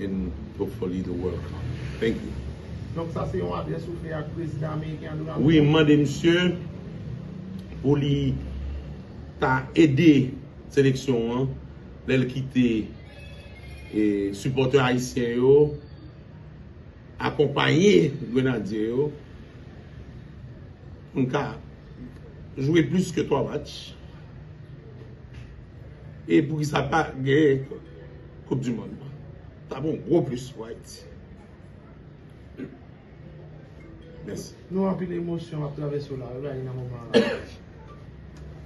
and hopefully the world cup thank you. Donk sa se yon adrès ou fè ak prezidan ameriken an Donald Trump? Wi m mande misye pou li ta ede seleksyon an lè l kite e sipòtè ayisyen yo akonpaye grenadye yo pou n ka jwe plis ke 3 match e poukisa pa gen Koup di mond lan tap yon gwo plis pou Ayiti. Mèsi. Nou anpil emosyon ap travèse w la wi nan moman an.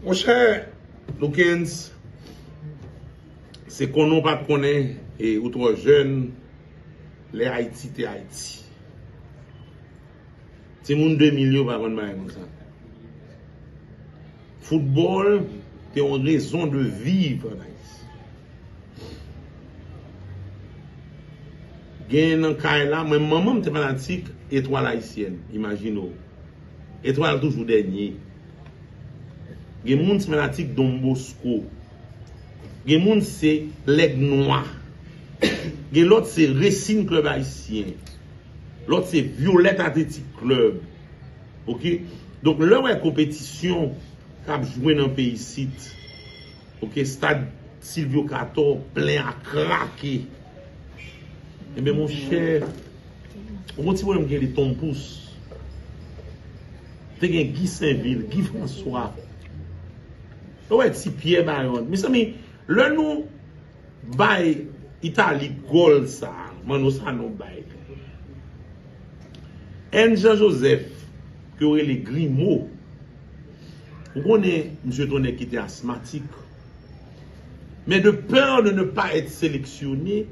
Mon chè Loukens, se konnen w pat konnen e ou twò jèn lè Ayiti te Ayiti. Timoun 2000 yo pa konn bagay konsa. Foutbòl te yon rezon de viv an Ayiti. Gen nan kay la, mwen manman m te fanatik Etwal Ayisyèn, imajine w. Etwal toujou dènye. Gen moun se fanatik Don Bosco. Gen moun se Lèg Nwa. Gen lòt se Resin Klèb Ayisyen. Lòt se Violette Athletic Club ok donk lè wè konpetisyon kap jwe nan peyi isit ok stad Sylvio Cator plen a krake enben monchè ou kon ti pwoblèm ki rele Ton Pous te gen Guy Sainvil Guy François ou wè ti Pierre Bayon mezanmi lè nou Bay Italy gòl sa Manno Sanon bay li. 1 Jean Joseph ke yo rele Grimo ou konnen misye t on nèg ki te asmatik men de peur de ne pas être selectionné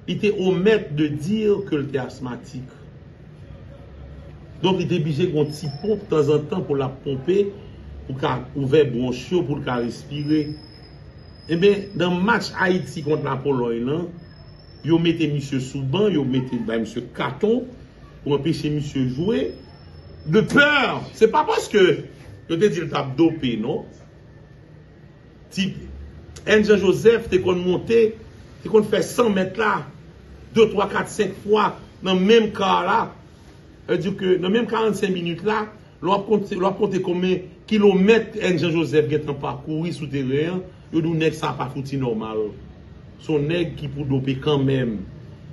li te omèt de dire ke l te asmatik donk li te bije gon ti ponp tanzantan pou l ap ponpe pou ka ouvè bronch yo pou l ka respire. Enben, nan match Ayiti kont Lapolòy lan, yo mete misye sou ban, yo mete bay misye katon pou anpeche misye jwe de pè, se pa paske yo te di l t ap dope non. Ti N. Jean Joseph te konn monte, te konn fè 100 mèt la de twa kat senk fwa nan menm kar la, sa vle di ke nan menm 45 minit la. Lè w ap konte konbyen kilomèt N. Jean Joseph gen tan pakouri sou teren an, yo di w nèg sa pa fouti nòmal. Se yon nèg ki pou dope kanmenm.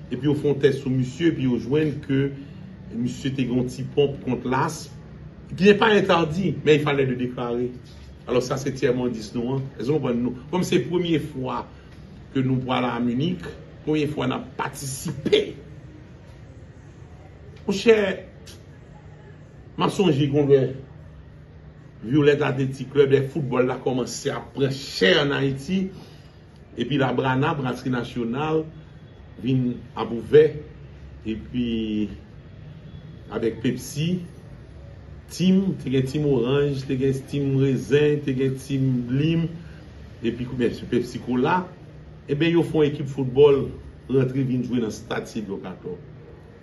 Epi yo fè yon tès sou misye epi yo jwenn ke misye te gen yon ti ponp kont lasm. Ki ne pa entèdi, men il falè de deklare. Alò sa se tyèm endis nou an. Èske nou konprann? Kòm se premye fwa ke nou pral a Munich, premye fwa n ap patisipe. Monchè! M ap sonje gen yon lè Violette Athletic, klèb de foutbòl la kòmanse ap pran chè ann Ayiti epi Labrana, Brasri Nasyonal, vin ap ouvè epi avèk Pepsi, Tim, te gen Tim Oranj, te gen Tim Rezen, te gen Tim Lim epi byensi Pepsi Kola. Enben yo fè yon ekip foutbòl rantre vin jwe nan stad Sylvio Cator.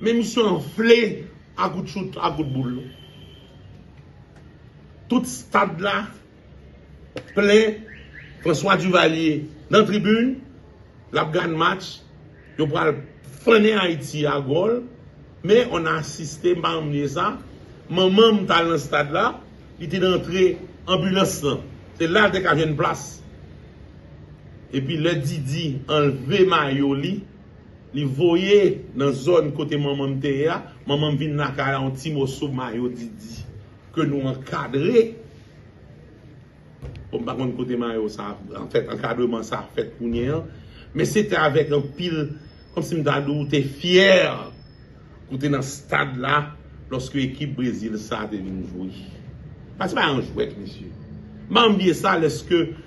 Men misye anfle a kout chout, a kout boul. Tout stad la plen François Duvalier nan tribin, l ap gad match, yo pral fannen Ayiti a gòl. Men on a asiste, m pa janm bliye sa, manman m t al nan stad la, li te nan antre anbilans lan. Se la l te ka jwenn plas. Epi lè Didi anlve mayo li. Li voye nan zòn kote manman m te ye a, manman m vin lakay la yon ti moso mayo didi ke nou ankadre, bon m pa konn kote mayo sa anfèt ankadreman sa fèt kounye an, men se te avèk anpil kòm si m ta di w te fyè pou w te nan stad la lòske ekip Brezil sa te vin jwe. Sa se pa yon jwèt mesye. M pa janm bliye sa lèske.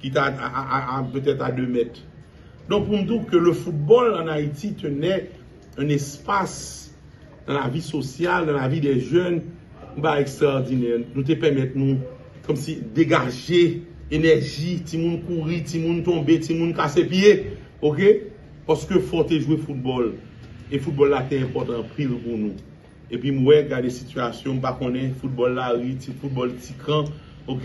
Ki ta a peut-être à deux mètres. Donk pou m di w ke le football en Haïti tenait un espace dans la vie sociale, dans la vie des jeunes, yon bagay ekstraòdinè. Nou te pèmèt nou kòm si degaje enèji, timoun kouri, timoun tonbe, timoun kase pye. Ok? Paske fò w te jwe football. E football la te enpòtan anpil pou nou. Epi m wè gade sitiyasyon m pa konnen foutbòl lari ti foutbòl ti kan ok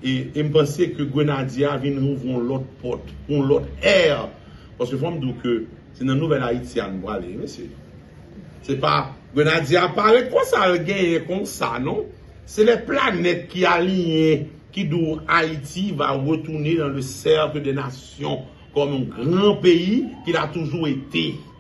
e m panse ke grenadye a vin ouvri yon lòt pòt pou yon lòt ère paske fò m di w ke se nan nouvèl ayiti a nou prale wi mesye se pa grenadye a pa ret konsa l genyen konsa non se lè planèt ki aliye ki di w ayiti va retounen nan le cercle des nations kòm yon gran peyi ki l a toujou ete.